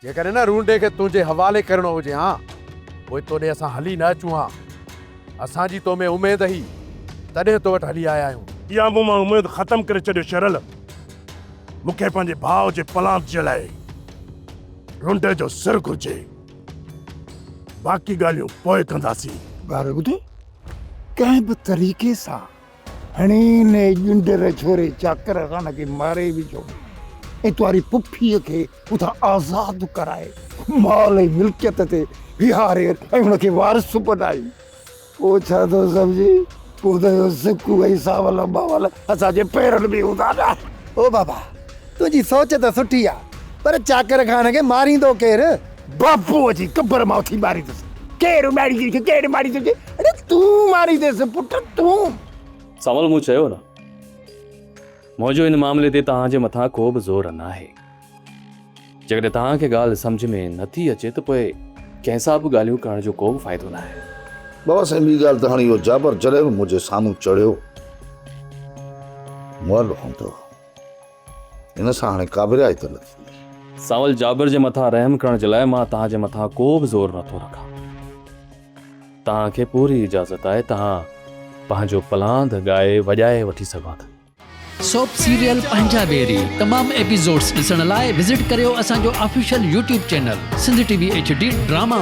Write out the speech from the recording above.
جيڪڏهن ان رونڊي کي تنهنجي حوالي ڪرڻو هجي ها پوء تو ڏي اسان هلي نه اچون ها. اسان جي تو ۾ اميد هئي تڏهن تو وٽ هلي آيا آهيون. اها مون مان اميد ختم ڪري ڇڏيو شيرل. مون کي پنهنجي ڀاء جي پلانڌ جي لاء رونڊي جو سر گهرجي. باقي ڳالهيون پوء ڪنداسين. ڳارو ٻڌي ڪنهن به طريقي سان هڻي ان ڄنڊر جهوري چاڪر خان کي ماري وجهو ۽ تنهاري پڦيء کي اتان آزاد ڪرائي مال ۽ ملڪيت تي ويهاري ۽ هن کي وارث بنائي. پوء ڇا ٿو سمجهين؟ پوء ته اهو سڪ ۽ ساول ٻاول اسان جي پيرن ۾ هوندا نه! او بابا! تنهنجي سوچ ته سٺي آ، پر چاڪر خان کي ماريندو ڪير؟ باپو اچي قبر مان اٿي ماريندس! ڪير اڏاميندي کي، ڪير ماريندي کي؟ اڙي تون مارينديس پٽ، تون! ساول مون چيو نه! منهنجو ان معاملي تي توهان جي مٿان ڪو به زور ناهي. جيڪڏهن توهان کي ڳالهه سمجهه ۾ نه ٿي اچي ته پوء ڪنهن سان به ڳالهيون ڪرڻ جو ڪو به فائدو ناهي. بابا سائين ٻي ڳالهه ته هاڻي اهو جابر جڏهن به منهنجي سامهون چڙهيو مئل هوندو هو. هن سان هاڻي ڪابريائي ته نه ٿيندي. سانول جابر جي مٿان رحم ڪرڻ جي لاء مان توهان جي مٿان ڪو به زور نه ٿو رکان. توهان کي پوري اجازت آهي توهان پنهنجو پلاند ڳائي وڄائي وٺي سگهو ٿا. سوپ سيريل پنهنجا بيري تمام ايپيسوڊز ڏسڻ لاء وزٽ ڪريو اسان جو official YouTube channel Sindh TV HD drama.